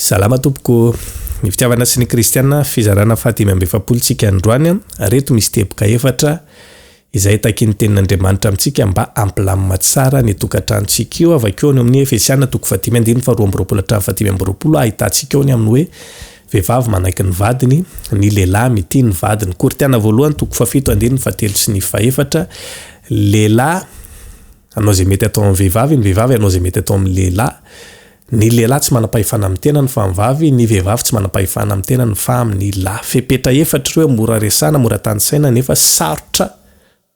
Salama tompoko. Ny fitiavana sy ny kristiana fizarana faha dimy amby efapolo tsika androany reto misy teboka efatra izay takin'ny tenin'Andriamanitra amintsika mba hampilamina tsara ny tokantranontsika io avakeo any amin'ny Efesiana toko faha dimy andininy faha roa amby roapolo hatramin'ny faha dimy amby roapolo ahitantsika eo ny amin'ny hoe vehivavy manaiky ny vadiny ny lehilahy mitia ny vadiny Korintiana voalohany toko faha fito andininy faha telo sy ny faha efatra lehilahy Hanao izay mety atao amin'ny vehivavy ny vehivavy hanao izay mety atao amin'ny lehilahy Ny lehilahy tsy manam-pahefana amin'ny tenany fa amin'ny vavy Ny vehivavy tsy manam-pahefana amin'ny tenany fa amin'ny lahy Fepetra efatra ireo mora resahina, mora tanisaina nefa sarotra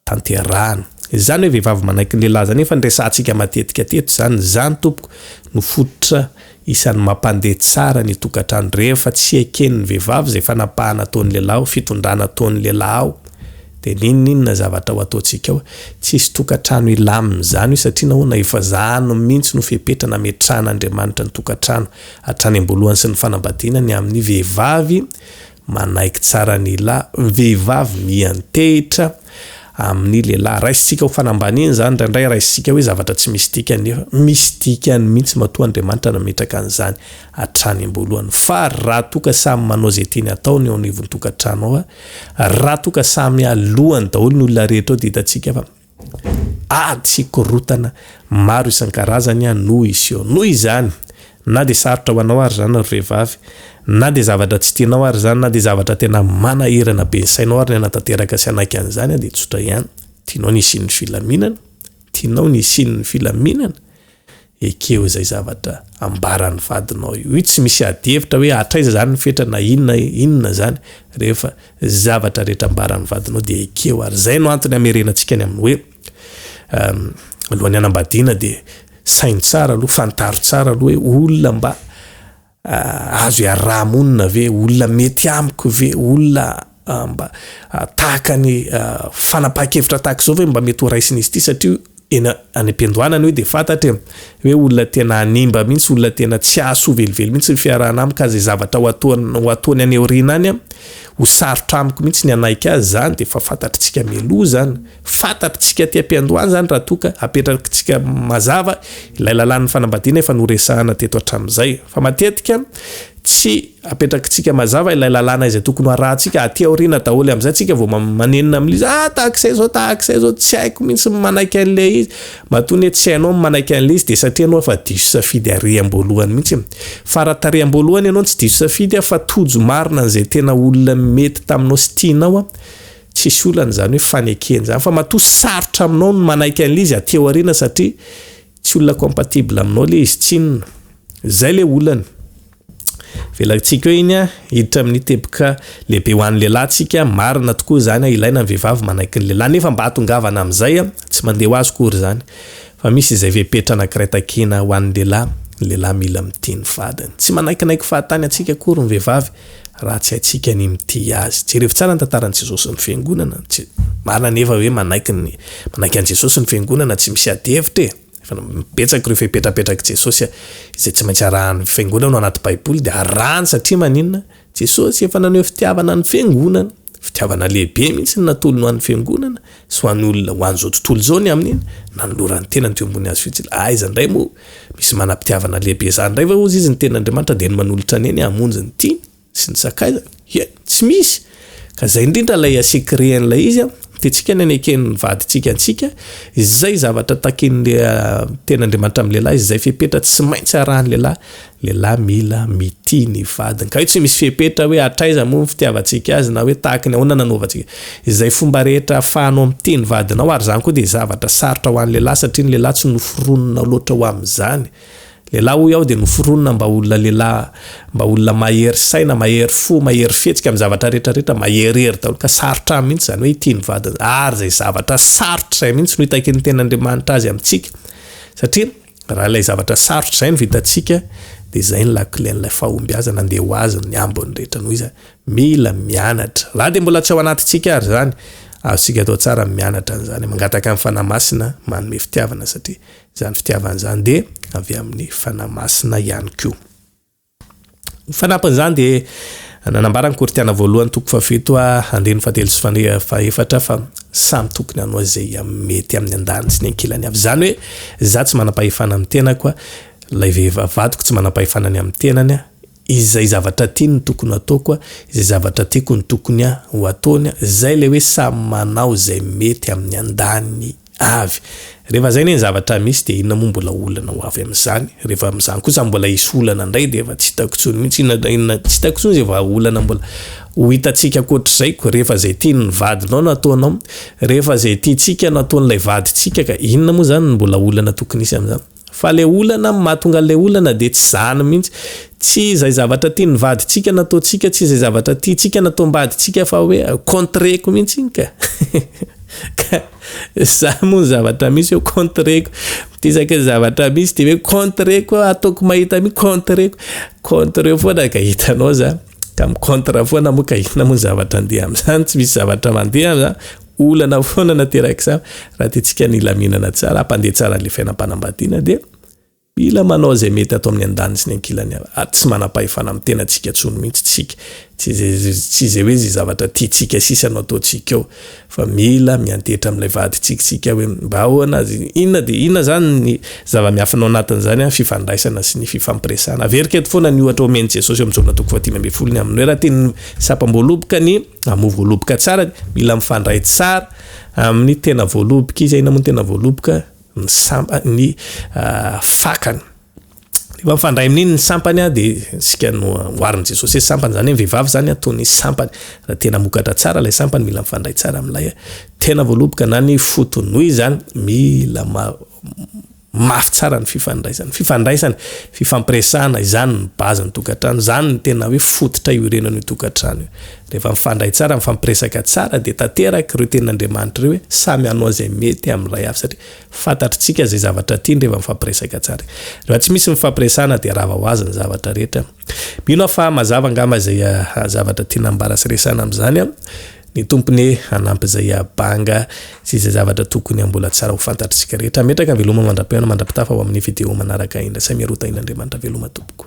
tanterahina Izany hoe vehivavy manaiky ny lehilahy izany efa niresahantsika matetika teto izany Izany tompoko no fototra Isan'ny mampandeha tsara ny tokantrano rehefa tsy eken'ny vehivavy izay fanapahana ataon'ny lehilahy ao, fitondrana ataon'ny lehilahy ao dia n'inon'inona zavatra ho ataontsika ao. Tsisy tokantrano hilamina izany hoe satria nahoana efa izany mihitsy no fepetra nametrahan'Andriamanitra ny tokantrano hatrany am-boalohany sy ny fanambadiana ny amin'ny vehivavy Manaiky tsara ny la vehivavy miantehitra amin'ny lehilahy. Raisintsika ho fanambaniana izany, indraindray raisintsika hoe zavatra tsy misy dikany nefa misy dikany mihitsy matoa Andriamanitra nametraka an'izany hatrany am-boalohany. Fa raha toa ka samy manao izay tiany hatao ny eo anivon'ny tokantrano ao, raha toa ka samy aloany daholo ny olona rehetra ao dia hitantsika fa Ady sy korontana maro isan-karazany no hiseho. Noho izany, na dia sarotra ho anao ary izany ry vehivavy, na dia zavatra tsy tianao ary izany, na dia zavatra tena manahirana be ny sainao ary ny hanatanteraka sy hanaiky an'izany dia tsotra ihany. Tianao ny hisian'ny filaminana? Tianao ny hisian'ny filaminana? Ekeo izay zavatra ambaran'ny vadinao io. Io tsy misy adihevitra hoe hatraiza izany ny fetra na inona inona izany rehefa izay zavatra rehetra ambaran'ny vadinao dia ekeo ary izay no antony hamerenantsika ny amin'ny hoe alohan'ny hanambadiana dia saino tsara aloha, fantaro tsara aloha hoe olona mba Azo iaraha-monina ve? Olona mety amiko ve? Olona mba tahaka ny fanapahan-kevitra tahaka izao ve mba mety ho raisin'izy ity? Satria eny any am-piandohanana hoe dia fantatra e, hoe olona tena hanimba mihitsy, olona tena tsy hahasoa velively mihitsy ny fiarahana amiko, ka izay zavatra ho ataony, ho ataony any aoriana any, ho sarotra amiko mihitsy ny hanaiky azy izany, dia efa fantatr'tsika mialoha izany. Fantatr'tsika aty am-piandohana izany raha toa ka apetrakintsika mazava ilay lalàn'ny fanambadiana efa noresahana teto hatramin'izay. Fa matetika tsy apetrakintsika mazava ilay lalàna izay tokony ho arahantsika aty aoriana daholo amin'izay tsika vao manenina amin'ilay izy, ah tahak'izay izao, tahak'izay izao, tsy haiko mihitsy ny manaiky an'ilay izy. Matoa anie tsy hainao ny manaiky an'ilay izy dia satria ianao efa diso safidy ary am-boalohany mihitsy. Fara tarehy am-boalohany ianao no tsy diso safidy fa tojo marina an'izay tena olona mety taminao sy tianao Tsisy olana izany hoe fanekena izany fa matoa sarotra aminao ny manaiky an'ilay izy aty aoriana satria tsy olona compatible aminao ilay izy tsinona. Izay ilay olana. Velarintsika eo iny an, hiditra amin'ny teboka lehibe ho an'ny lehilahy tsika, marina tokoa izany an, ilaina ny vehivavy manaiky ny lehilahy nefa mba atongavana amin'izay an, tsy mandeha ho azy akory izany fa misy izay fepetra anakiray takina ho an'ny lehilahy, ny lehilahy mila mitia ny vadiny. Tsy manaikinaiky fahatany antsika akory ny vehivavy Raha tsy haintsika ny mitia Azy. Jerevo tsara ny tantaran'i Jesosy sy ny Fiangonana. Marina anefa hoe manaiky ny, manaiky an'i Jesosy sy ny Fiangonana, tsy misy ady hevitra e! Efa betsaka ireo fepetrapetrak'i Jesosy izay tsy maintsy arahan'ny Fiangonana ao anaty Baiboly, dia arahany satria maninona? Jesosy efa naneho fitiavana ny Fiangonana. Fitiavana lehibe mihitsy ny natolony ho an'ny Fiangonana sy ho an'ny olona ho an'izao tontolo izao ny amin'iny, nanolorany ny tenany teo ambony hazo fijila. Aiza indray moa misy manam-pitiavana lehibe izany indray va hozy izy ny Tenin'Andriamanitra dia ny manolotra ny ainy hamonjy ny tiany sy ny sakaizany? Ie, tsy misy! Ka izay indrindra ilay asekirehany ilay izy an-tentsika ny hanekeny ny vadintsika antsika, izay zavatra takian'ny Tenin'Andriamanitra amin'ny lehilahy, izay fepetra tsy maintsy arahan'ny lehilahy, Lehilahy mila mitia ny vadiny. Ka io tsy misy fepetra hoe hatraiza moa ny fitiavantsika azy na hoe tahaka ny ahoana nanaovantsika. Izay fomba rehetra ahafahanao mitia ny vadinao ary izany koa dia zavatra sarotra ho an'ny lehilahy satria ny lehilahy tsy noforonina loatra ho amin'izany. Lehilahy hoy aho dia noforonina mba ho olona lehilahy, mba olona mahery saina, mahery fo, mahery fihetsika amin'ny zavatra rehetra rehetra, maherihery daholo ka sarotra aminy mihitsy izany hoe hitia ny vadiny. Ary izay zavatra sarotra izay mihitsy no itakin'ny tenin'Andriamanitra azy amintsika satria. Raha ilay zavatra sarotra izay no vitantsika dia izay ny lakilen'ilay fahombiazana andeha ho azon'ny ny ambiny rehetra noho iza mila mianatra. Raha dia mbola tsy ao anatintsika ary izany, azontsika atao tsara ny mianatra an'izany. Mangataka ny Fanahy Masina manome fitiavana satria izany fitiavana izany dia avy amin'ny Fanahy Masina ihany koa. Ho fanampin'izany dia nanambara ny Korintiana voalohany toko fahafito andininy fahatelo sy fahefatra fa samy tokony hanao izay mety amin'ny andaniny sy ny ankilany avy. Izany hoe izaho tsy manam-pahefana amin'ny tenako, ilay vehivavy vadiko tsy manam-pahefana ny amin'ny tenany, izay zavatra tiany no tokony hataoko, izay zavatra tiako no tokony ho ataony, izay ilay hoe samy manao izay mety amin'ny andaniny. Avy. Rehefa izay anie ny zavatra misy dia inona moa mbola olana ho avy amin'izany? Rehefa amin'izany kosa mbola hisy olana indray dia efa tsy hitako intsony mihitsy inona na inona, tsy hitako intsony izay vahaolana mbola ho hitantsika ankoatr'izay ko. Rehefa izay tian'ny vadinao no ataonao, rehefa izay tiantsika no ataon'ilay vadintsika ka inona moa izany ny mbola olana tokony hisy amin'izany? Fa le olana am mahatonga anle olana de tsy zany mintsy. Tsy zay zavatra tian'ny vadintsika nataontsika, tsy zay zavatra tiantsika nataombadintsika fa hoe contre-ko mintsy iny ka. Ka zany moa ny zavatra misy hoe contre-ko. Isaky ny zavatra misy de hoe contre-ko aho, ataoko mahita mi contre-ko. Contre-eo foana ka hitanao zany. Ka mi-contre foana moa ka inona moa ny zavatra andeha amzany, tsy misy zavatra mandeha amzany. Olana foana naterak'izany raha tiantsika ny hilaminana tsara, hampandeha tsara an'ilay fiainam-panambadiana dia mila manao izay mety atao amin'ny andaniny sy ny ankilany avy, ary tsy manam-pahefana amin'ny tenantsika intsony mihitsy isika, tsy tsy izay hoe izay zavatra tiantsika sisa no ataontsika eo fa mila miantehitra amin'ilay vadintsika isika hoe mba ahoana azy, inona dia inona izany ny zava-miafina ao anatin'izany an, fifandraisana sy ny fifampiresahana, averiko eto foana ny ohatra omen'i Jesosy eo amin'ny Jaona toko fahatelo ambin'ny folo ny amin'ny hoe raha tian'ny Sapam-boaloboka ny amoa voaloboka tsara, mila mifandray tsara amin'ny tena voaloboka izy. Inona moa ny tena voaloboka? Ny sampa, ny fakany. Rehefa mifandray amin'iny ny sampany a, dia isika no amboarin'i Jesosy hoe sampany, izany hoe ny vehivavy izany a, toy ny sampany. Raha tena hamokatra tsara ilay sampany, mila mifandray tsara amin'ilay tena voaloboka na ny foto-nohy izany, mila ma-. Mafy tsara ny fifandraisana. Fifandraisana, fifampiresahana, izany ny base ny tokantrano, izany ny tena hoe fototra iorenana io tokantrano io. Rehefa mifandray tsara, mifampiresaka tsara dia tanteraka ireo tenin'Andriamanitra ireo hoe samy hanao izay mety amin'ilay hafa satria fantatritsika izay zavatra tiany rehefa mifampiresaka tsara. Rehefa tsy misy ny fifampiresahana dia rava ho azy ny zavatra rehetra. Mino aho fa mazava angamba izay zavatra tiana ambara sy resahina amin'izany an! Ny Tompo anie hanampy izay banga sy izay zavatra tokony hambola tsara ho fantatr'isika rehetra. Ametraka ny veloma mandra-pihaona mandra-pitafa ho amin'ny video manaraka indray. Samia roa tahin'Andriamanitra veloma tompoko.